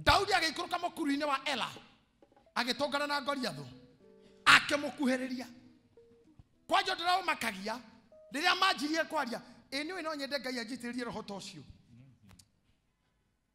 daudi agĩikũrũka mũkuru-inĩ wa ela agĩtũngana na ngoriathũ akĩmũkuhĩrĩria kwanja ndĩraũmakagia rĩrĩa manjirie kwaria ĩ nĩ ũĩ no nyende ngai anjitĩrĩrie roho ta ũcio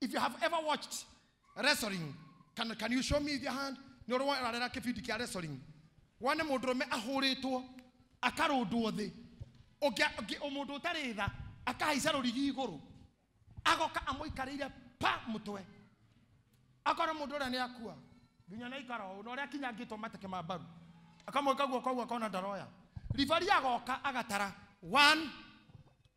If you have ever watched wrestling, can, can you show me your hand? Nĩ ũrĩ warera kĩbindi kĩa wrestling. Wone mũndũrũme ahũrĩtwo, akarũndwo thĩ. Ũngĩa- ũngĩ- ũ- Mũndũ ũtarĩ tha, akahaica rũrigi igũrũ. Agoka amũikarĩire pa mũtwe. Akorwo mũndũ ũrĩa nĩ akua. Nginya na ikara ũũ, na ũrĩa akinyangĩtwo mateke ma mbaru. Akamwĩka guoko ũguo akona ndaroya. Ribari agoka agatara. One,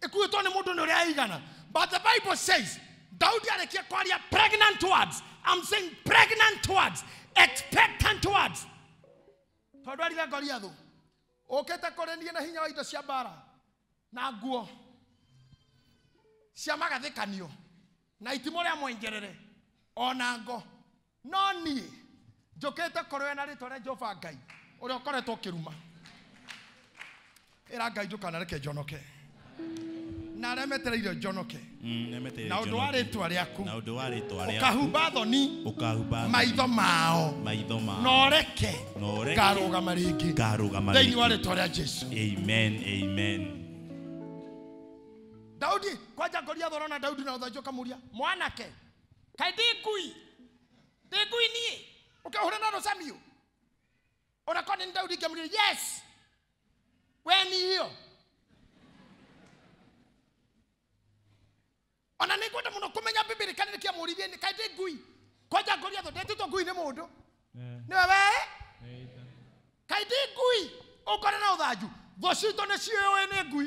ĩkuĩtwo nĩ mũndũ nĩ ũrĩa aigana but the bible says daudi arĩkia kwaria pregnant words i'm saying pregnant words expectant words tondũ arire goliathũ ũkĩte kũrĩ niĩ na hinya wa indo cia mbara na nguo cia magathĩkanio na itimũ rĩa mwenjerere o na ngo no niĩ njũkĩte kũrũya na rĩtwa rĩa jehova ngai ũrĩa ũkoretwo ũkĩruma ĩra ngai ndũkanareke njonoke na arĩa metereire njonoke Mm, nemeteire na ũndũ wa njonoke. rĩtwa rĩaku na ũndũ wa rĩtwa rĩaku ũkahumba thoni ũkahumba maitho mao maitho mao noreke Na ũreke. ngarũgama rĩngĩ ngarũgama thĩinĩ wa rĩngĩ. rĩtwa rĩa jesu amen amen daudi kwanja ngoria thorona daudi na ũthanju ũkamũria mwanake kaĩ ndĩ ngui ndĩ ngui niĩ ũkĩhũra na rũcamio ona korwo nĩ daudi ingĩmũria yes we nihio ona nĩ ngwenda mũno kũmenya bibiri kana nĩkĩamũrithie nĩ kaĩ ndĩ ngui kwanja ngũria thũ ndetĩtwo ngui nĩ mũndũ nĩ wewe kaĩ ndĩ ngui ũkore na ũthanju thũ citũ nĩ ciũĩ nĩ ngui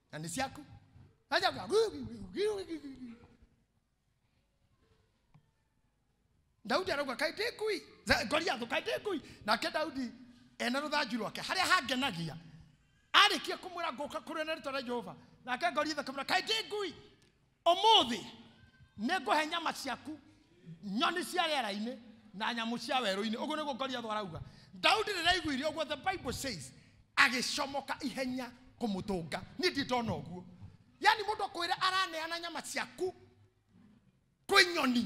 na nĩ ciaku ajaga daudi arauga kaĩ ndĩ ngui Za- goliathũ kaĩ ndĩ ngui nake daudi ena rũthanju rwake harĩa hangenagia arĩkia kũmwĩra ngũka kũrĩa na rĩtwa rĩa jehova nake goliathũ akamwĩra kaĩ ndĩ ngui ũmũthĩ nĩ ngũhe nyama ciaku nyoni cia rĩera-inĩ na nyamũ cia werũ-inĩ ũguo nĩguo goliathu arauga daudi rĩrĩa aiguire ũguo the bible says agĩcomoka ihenya kũmũtũnga niĩ ndirĩ ndona ũguo yani mũndũ akwĩra araneana nyama ciaku kwĩ nyoni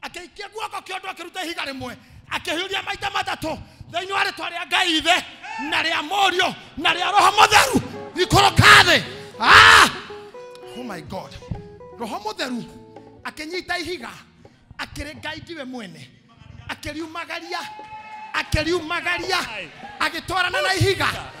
akĩikia guoko kĩa ũndũ akĩruta ihiga rĩmwe akĩhiũria maita matatũ thĩinĩ wa rĩtwa rĩa ngai ithe na rĩa mũriũ na rĩa roho mũtheru ikũrũka thĩ Ah! oh my god roho mũtheru akĩnyita ihiga akĩrĩnga ithiwe mwene akĩriumagaria akĩriumagaria agĩtwarana na ihiga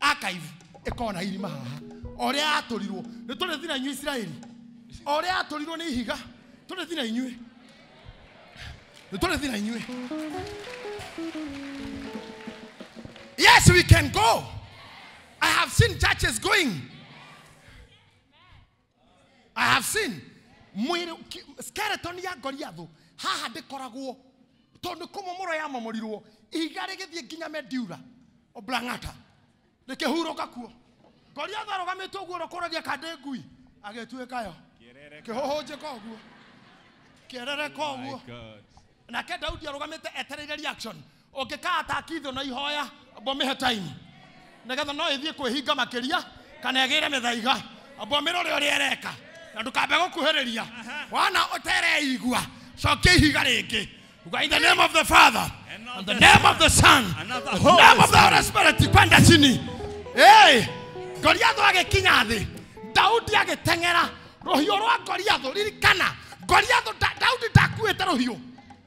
archive ĩkorwo na irima haha o ũrĩa yatũrirwo nĩ tũrĩ thina inyuĩ isiraeli o ũrĩa yatũrirwo nĩ ihiga tũrĩ thina inyuĩ nĩ tũrĩ thina inyuĩ yes we can go i have seen churches going I have seen mwĩrĩ ki- skeleton ya Goliath haha ndĩkoragwo tondũ kũmomoro yamomorirwo ihiga rĩgĩthiĩ nginya Mediura Oblangata rĩkĩhurũka kuo Goliath arũgamĩte ũguo rũkũragia kandĩ ngui agĩtuĩka yo kĩhũhũnjĩka ũguo kĩerereka ũguo nake Daudi arũgamĩte etereire reaction ũngĩkaata kithũ na ihoya mbomĩhe time nĩgetha no ĩthiĩ kwĩhinga makĩria kana ĩgĩre mĩthaiga mbomĩra ũrĩa ũrĩa ĩreka na ndũkambe gũkuhĩrĩria wana ũtereigua cokia ihiga rĩngĩ Uga, in the name of the father And of and the the name of the son And of the the Holy name of the holy spirit kwenda chini Hey, goliathu agĩkinya thĩ daudi agĩteng'era rũhiũ rwa goliathu ririkana goliathu Da- daudi ndakuĩte rũhiũ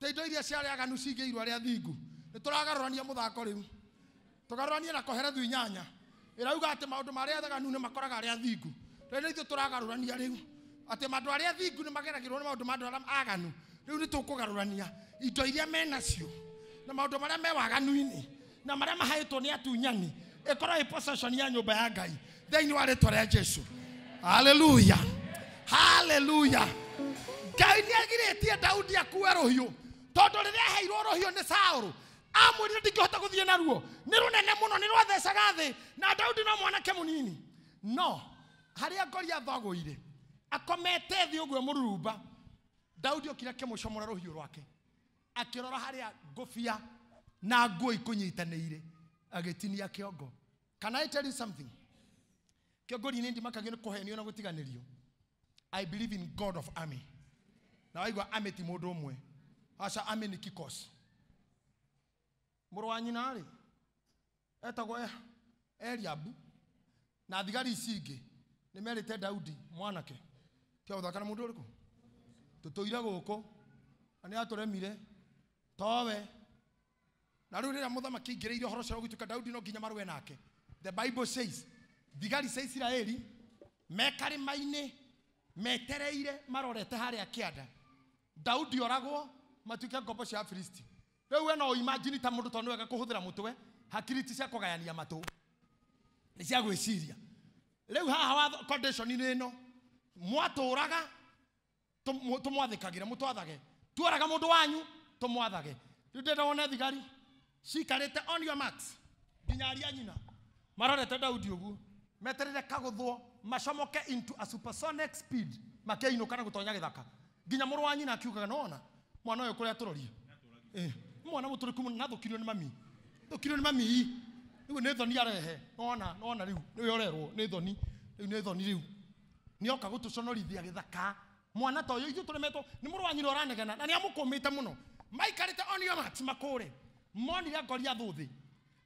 Ta indo iria cia arĩa aganu cingĩirwo arĩa athingu. Nĩ tũragarũrania mũthako rĩu. Tũgarũranie na Koherethu inyanya. Ĩrauga atĩ maũndũ ma arĩa aganu nĩ makoraga arĩa athingu. Rĩu nĩ ithuĩ tũragarũrania rĩu. Atĩ andũ arĩa athingu nĩ mageragĩrwo nĩ maũndũ ma andũ arĩa aganu. Rĩu nĩ tũkũgarũrania indo iria menacio na maũndũ marĩa me waganu-inĩ. na marĩa mahaĩtwo nĩ atunyani ĩkorwo ĩ possession ya nyũmba ya ngai thĩinĩ wa rĩtwa rĩa jesu haleluya haleluya ngai nĩ agirĩtie daudi akue rũhiũ tondũ rĩrĩa aheirwo rũhiũ nĩ saũrũ amwĩrire ndingĩhota gũthiĩ naruo nĩ rũnene mũno nĩ rwathecaga thĩ na daudi no mwanake mũnini no harĩa goliatho agũire akomete thĩ ũguo mũrurumba daudi okire akĩmũcomora rũhiũ rwake akĩrora harĩa ngũbia na nguo ikũnyitanĩire agĩtinia kĩongo can i tell you something kĩongorinĩ ndimakagio nĩ kũhenio na gũtiganĩrio i believe in god of army na waigua army ti mũndũ ũmwe aca army nĩ kikosi mũrũ wa nyina rĩ etagwo E- Eliabu, na thigari ici ingĩ nĩ merĩte Daudi mwanake tiga gũthaka na mũndũ ũrĩkũ tũtũire gũkũ na nĩ atũremire towe na rĩu rĩrĩa mũthamaki aingĩrĩire ũhoro ũcio wa gũtuĩka Daudi no nginya marũe nake the bible says thigari cia Isiraeli me karĩma-inĩ metereire marorete harĩa kĩanda Daudi oragwo matuĩke ngombo cia Afilisti rĩu we no imagine ta mũndũ tondũ nĩwega kũhũthĩra mũtwe hakiri ti cia kũgayania matũ nĩ cia gwĩciria rĩu haha watho condition-inĩ ĩno mwatũũraga tũmũ- tũmwathĩkagĩre mũtwathage tuoraga mũndũ wanyu tũmwathage rĩu ndĩrenda wone thigari cikarĩte on your marks nginya aria nyina marorete daudi ũguo meterere kagũthwo macomoke into a supersonic speed makĩinũka na gũtonya gĩthaka nginya mũrũ wa nyina akiugaga nona mwana ũyũ kũrĩa tũrorie Eh, nĩ mwana mũtũrĩku mũno nathũkirio nĩ mami thũkirio nĩ mami rĩu nĩ thoni arehe nona nona rĩu nĩwe ũrerwo nĩ thoni rĩu nĩ thoni rĩu nĩoka gũtũconorithia gĩthaka mwana ta ũyũ ithuĩ tũremetwo nĩ mũrũ wa nyina ũranegena na nĩ amũkũmĩte mũno maikarĩte onio mati makũre monire ngori athũthĩ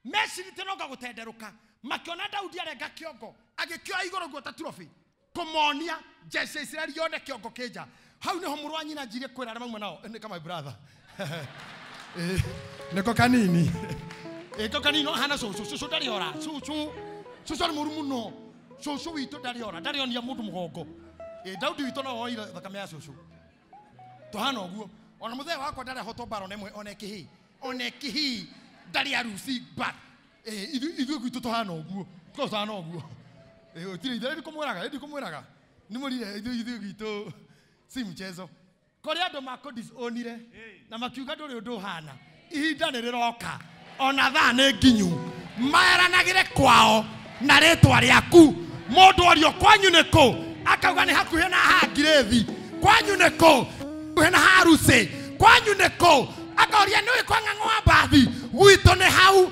meciritĩ noka gũtenderũka makĩona daudi arenga kĩongo agĩkĩoya igũrũ guo ta turobi kũmonia jeshi ya isiraeli yone kĩongo kĩnja hau nĩho mũrũ wa nyina njirĩ kwĩra arĩa mauma nao nĩ kama brother Eh, nĩko kanini ĩko kanini hana cũcũ cũcũ ndarĩ ora cũcũ cũcũ arĩ mũru mũno cũcũ witũ ndarĩ ora ndarĩ onia mũndũ mũgongo Eh, daudi witũ no woire thakame ya cũcũ tũhana ũguo ona mũthee wakwa ndarĩ ahotwo mbara ona ĩmwe ona ĩkĩhĩ ona ĩkĩhĩ ndarĩ aruci mbara Eh, ithu- ithuĩ gwitũ tũhana ũguo korwo tũhana ũguo Eh, ũtirĩ ithe ndikumwĩraga ndikumwĩraga nimũrire ithuĩ ithuĩ gwitũ si mchezo korĩ andũ makũdisionire na makiuga ndũrĩ ũndũ ũhana ihinda nĩ rĩroka ona thaa nĩ nginyu maeranagĩre kwao na rĩtwa rĩaku mũndũ orio kwanyu nĩ kũ akauga nĩ hakuhĩ na ha ngirĩthi kwanyu nĩ kũ hakuhĩ na ha rusĩ kwanyu nĩ kũ akoria nĩ ũĩ kwa ng'ang'o wa mbathi gwitũ nĩ hau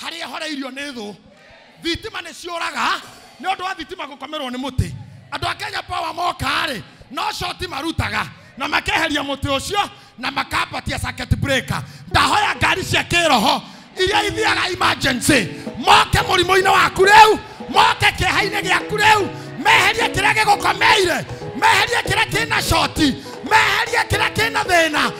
harĩa horeirio nĩ thũ thitima nĩ ciũraga nĩ ũndũ wa thitima gũkomerwo nĩ mũtĩ andũ a kenya power moka-rĩ no coti marutaga na makeheria mũtĩ ũcio na makambatia circuit breaker ndahoya ngari cia kĩroho iria ithiaga emergency moke mũrimũ-inĩ waku rĩu moke kĩeha-inĩ gĩaku rĩu meherie kĩrĩa gĩgũkomeire meherie kĩrĩa kĩna coti meherie kĩrĩa kĩna thĩna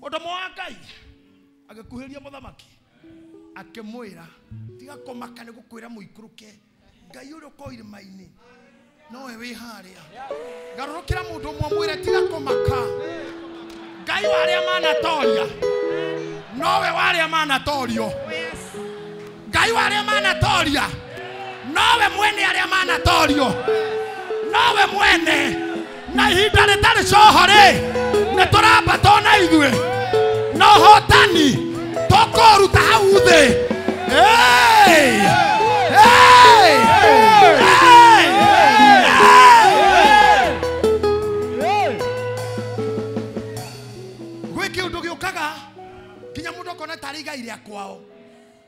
mũtũmwo wa ngai agĩkuhĩrĩria mũthamaki akĩmwĩra tiga kũmaka nĩ gũkwĩra mũikũrũke ngai ũrĩa ũkorwo irĩma-inĩ nowe wĩ harĩa garũrũkĩra mũndũ ũmwe mwĩre tiga kũmaka ngai wa arĩa manatoria nowe wa arĩa manatorio ngai wa arĩa manatoria nowe mwene arĩa manatorio nowe mwene na ihinda rĩtarĩ coho-rĩ nĩ tũrambatwo na ithuĩ na ũhotani tũkũruta hau thĩ Hey! Hey! Hey! Hey! gwä kä å ndå gä å kaga nginya må ndå akona tarä igai rä a kwao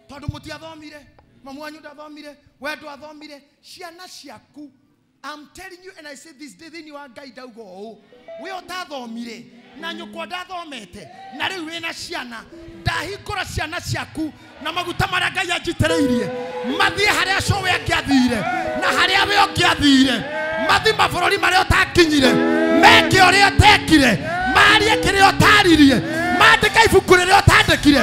tondå må tiathomire mamu wanyu ndathomire we ndwathomire ciana ciaku I'm telling you and I say this day thĩinĩ wa ngai ndauga ũũ we ũtathomire na nyũkwa ndathomete na rĩu wĩna ciana ndahingũra ciana ciaku na maguta marĩa ngai anjitĩrĩirie mathiĩ harĩa co we angĩathire na harĩa we ũngĩathire mathi mabũrũri marĩa ũtakinyire meke ũrĩa ũtekire marie kĩrĩa ũtaririe mandĩka ibuku rĩrĩa ũtandĩkire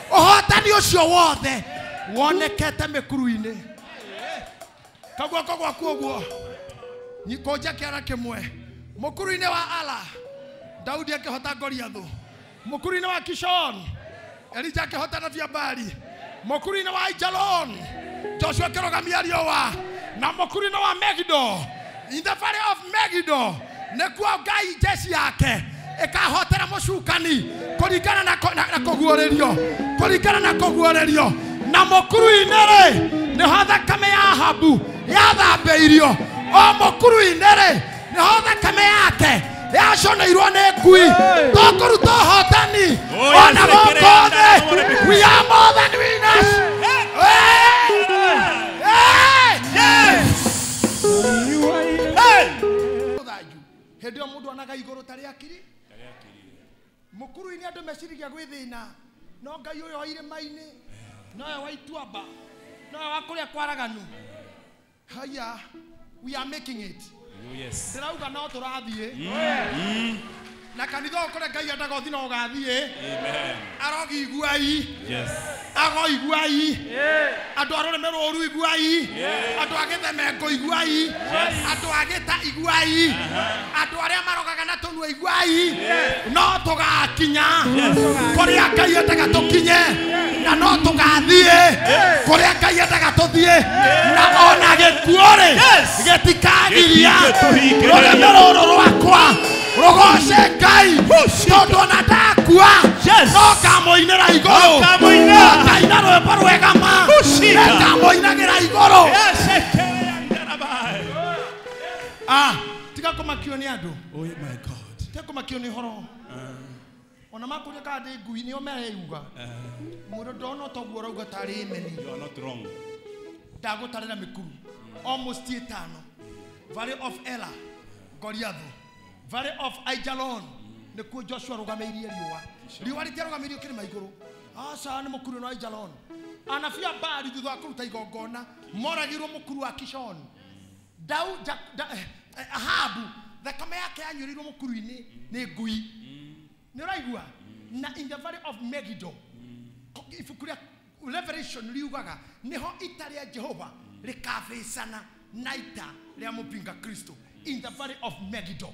ũhotani ũcio wothe wonekete mĩkuru-inĩ kaguoko gwaku ũguo nyikũnja kĩara kĩmwe mũkuru-inĩ wa ala daudi akĩhota goliathũ mũkuru-inĩ wa kishon elija akĩhota na biambari mũkuru-inĩ wa ijalon joshua akĩrũgamia riũa na mũkuru-inĩ wa megido in the valley of megido nĩkuo ngai njeci yake ĩkahotera mũcukani kũringana na kũ- na- na kũguũrĩrio kũringana na kũguũrĩrio na mũkuru-inĩ rĩ nĩho thakame ya habu yathambĩirio o mũkuru-inĩ rĩ nĩho thakame yake yaconeirwo nĩ ngui tũkũruta ũhotani Oh, yes, ona gũkũ rekereria thĩ ndagũre mĩkuru. we are more than winners Hey! Hey! Yes! thanju hindi yo mundu onaga iguru tari akiri mukuru-ini andu mecirigia gwi thina no ngai uyu wa irima-ini nowe wa ituamba nowe wa kuria kwaraganu haya we are making it Oh, yes. ndirauga no turathie Na kanitha ũyũ kũrĩa Ngai endaga ũthiĩ no ũgathiĩ. Amen. Arogi iguai. Yes. Ago iguai. Andũ a rũrĩmĩ rũru iguai. Andũ a gĩthemengo iguai. Andũ a gĩta iguai. Andũ arĩa marogaga na tũnua iguai. No tũgakinya kũrĩa Ngai endaga tũkinye. Na no tũgathiĩ kũrĩa Ngai endaga tũthiĩ. Na ona gĩkuũ-rĩ gĩtikagiria Gĩtige tũhinge. rũrĩmĩ rũrũ rwakwa. rũgoce ngai tondũ ona ndakua Yes. no ngamũinĩra igũrũ No ngamũinĩra. No ngaina rwĩmbo rwega ma Kushika. Nĩ ngamũinagĩra igũrũ Yes, ekelea ndarabai. Ah, tiga kũmakio nĩ andũ Oh my God. tiga kũmakio nĩ horo ona makũria kana ndĩ ngui nĩo mereyuga mũndũ ndona ũtoguo ũrauga tarĩ meni You are not wrong. ndagũtarĩra mĩkuru almost ĩtano valley of ela goliatho valley of aijalon nĩkuo joshua arũgamĩirie riũa riũa rĩtiarũgamĩirio kĩrĩma igũrũ aca nĩ mũkuru no aijalon anabii a baali thutha wa kũruta igongona moragirwo mũkuru wa kishon Dau, ja, da, eh, Ahabu thakame yake yanyũrĩirwo mũkuru-inĩ nĩ ngui nĩ ũraigua na in the valley of Megiddo ko- ibuku rĩa Revelation riugaga nĩho ita rĩa Jehova rĩkabĩcana na ita rĩa mũpinga Kristo in the valley of Megiddo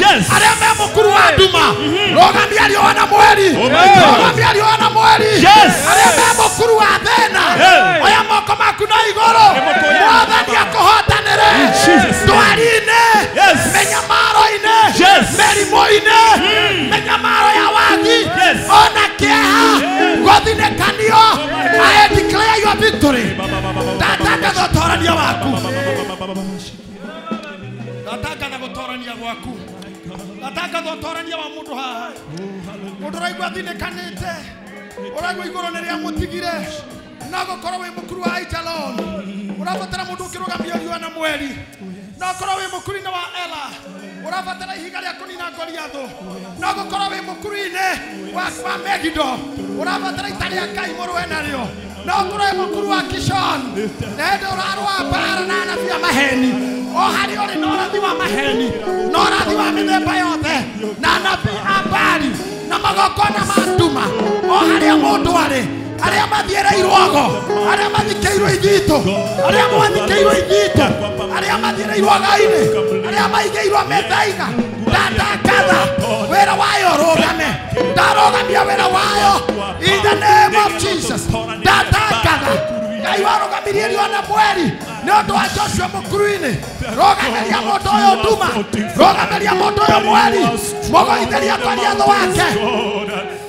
Yes. arĩa me mũkuru wa nduma rũgamia riũa na mweri Oh my God. rũgamia riũa na mweri Yes. arĩa me mũkuru wa thĩna Hey. oya moko maku na igũrũ Nĩmũkũya. mwathani akũhotanĩre Jesus. ndwari-inĩ Yes. mĩnyamaro-inĩ Yes. mĩrimũ-inĩ mĩnyamaro ya wagi Yes. ona kĩeha gũthinĩkanio I declare your victory ndatangatha ũtorania waku ndatangatha gũtorania gwaku ndatangatha ũtorania wa mũndũ haha mũndũ ũraigua athinĩkanĩte ũraigua igũrũ nĩ rĩa mũtigire no gũkorwo wĩ mũkuru wa aijalon ũrabatara mũndũ ũkĩrũgamia riũa na mweri no gũkorwo wĩ mũkuru-inĩ wa ela ũrabatara ihiga rĩa kũnina ngoriathũ no gũkorwo wĩ mũkuru-inĩ wa wa megido ũrabatara ita rĩa ngai mũrũe narĩo no ngũrwe mũkuru wa kishon na hĩndĩ ũrarũa mbara na anabi a maheni o harĩ ũrĩ na ũrathi wa maheni na ũrathi wa mĩthemba yothe na anabi a mbari na magongona ma nduma o harĩa mũndũ arĩ arĩa mathiĩrĩirwo ago arĩa mathikĩirwo ithitũ arĩa mwathikĩirwo ithitũ arĩa mathiĩrĩirwo againĩ arĩa maigĩirwo methaiga ndatangatha wĩra wayo rũgame ndarũgamia wĩra wayo in the name of jesus ndatangatha ngai warũgamirie riũa na mweri nĩ ũndũ wa joshua mũkuru-inĩ rũgamĩria mũndũ ũyũ nduma rũgamĩria mũndũ ũyũ mweri mũgoithĩria kwa riatho wake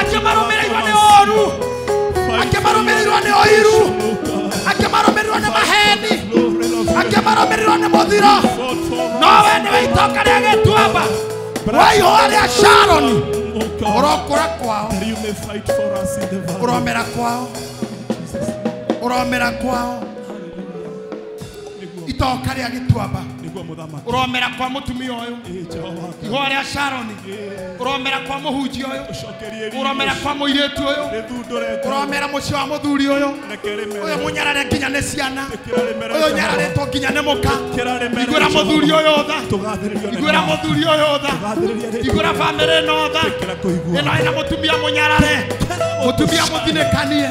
akĩmarũmĩrĩirwo nĩ ũru akĩmarũmĩrĩirwo nĩ ũiru akĩmarũmĩrĩirwo nĩ maheni akĩmarũmĩrĩirwo nĩ mũthiro nowe nĩwe itoka rĩa gĩtuamba wa ihũa rĩa sharoni ũrokũra kwao ũromera kwao ũromera kwao nĩguo itoka rĩa gĩtuamba nĩguo mũthamaki ũromera kwa mũtumia ũyũ Ĩ, Jehova ihũa rĩa sharoni Ĩ, ũromera kwa mũhunjia ũyũ ũcokerie riiri ũromera ũcio. kwa mũirĩtu ũyũ rĩthundũre Jehova. ũromera mũciĩ wa mũthuri ũyũ reke ũyũ rĩmere mũnyarare nginya nĩ ciana ĩkĩra rĩmere ũyũ Jehova. nyararĩtwo nginya nĩ mũka Ĩkĩra rĩmere igwĩra Jehova. mũthuri ũyũ tha tũgathĩrĩrio nĩ igwĩra Jehova. mũthuri ũyũ tha Tũgathĩrĩria rĩtwa. igwĩra bamĩrĩ ĩno tha Ĩkĩra kũigua. ĩno ĩna mũtumia mũnyarare mũtumia mũthinĩkanie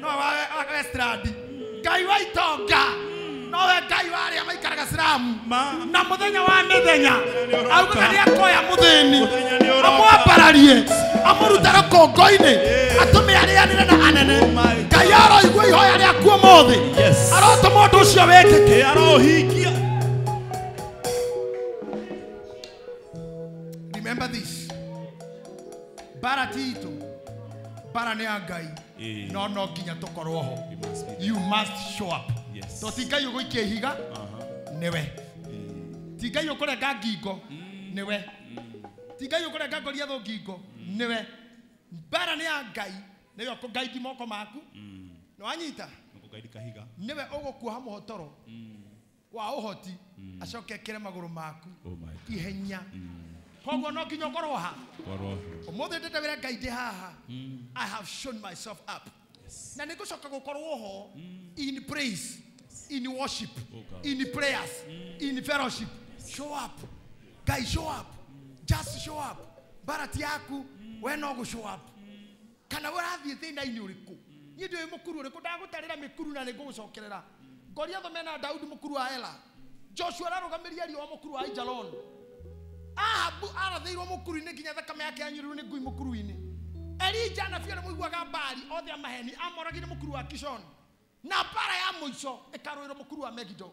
no wawe wa estradi ngai wa itonga nowe ngai wa arĩa maikaraga siramu Ma- na mũthenya wa mĩthenya nĩ ũroka. augaga nĩ akoya mũthĩni Mũthenya nĩ ũroka. amwambararie amũruta rũkũngũ-inĩ atũme arĩanĩre na anene my ngai aroigua ihoya rĩaku ũmũthĩ Yes. arotũma ũndũ ũcio wĩkĩke Ĩ arohingia Remember this. Bara tito. Bara nĩ ya Ngai. Eh. No no nginya tũkorwo ho. You must be there. You must show up. Yes. To ti Ngai ũgũikia ihiga Uh-huh. nĩwe. Eh. Ti Ngai ũkũrenga ngingo nĩwe. Ti Ngai ũkũrenga ngoria thũ ngingo nĩwe. Bara nĩ ya Ngai. Nĩwe ũkũgaidi moko maku. Mm. Nĩwanyita. Nikukaidi kahiga. Nĩwe ũgũkuoha mũhotoro. Mm. wa ũhoti acoke ekĩre magũrũ maku Oh my God. ihenya koguo no nginya ũkorwo ha Korwo. ũmũthĩ ndĩte wĩra ngai ndĩ haha i have shown myself up na nĩ ngũcoka gũkorwo ho in praise in worship Oh God. in prayers in fellowship show up ngai show up just show up barati yaku we no gũ show up kana we ũrathiĩ thĩna-inĩ ũrĩkũ niĩ ndĩũĩ mũkuru ũrĩkũ ndagũtarĩra mĩkuru na nĩ ngũgũcokerera goliatho mena daudi mũkuru wa ela joshua ararũgamĩria riũa mũkuru wa aijalon ahabu arathĩirwo mũkuru-inĩ nginya thakame yake yanyurirwo nĩ ngui mũkuru-inĩ elija na biarĩ mũiguaga mbari othe a maheni amoragire mũkuru wa kishon na mbara ya mũico ĩkarũĩrwo mũkuru wa megido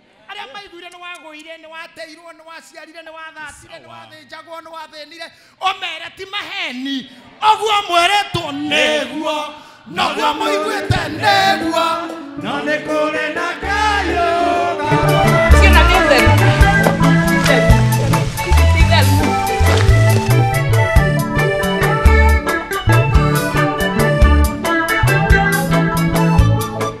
arĩa maiguire nĩ wagũire nĩ wateirwo nĩ waciarire nĩ wathatire nĩ wathĩnjagwo nĩ wathĩnire ũmere ti maheni ũguo mwĩrĩtwo nĩguo noguo mũiguĩte nĩguo no nĩ kũrĩ na kayũ Ciana nĩ theru. Ti theru. Thank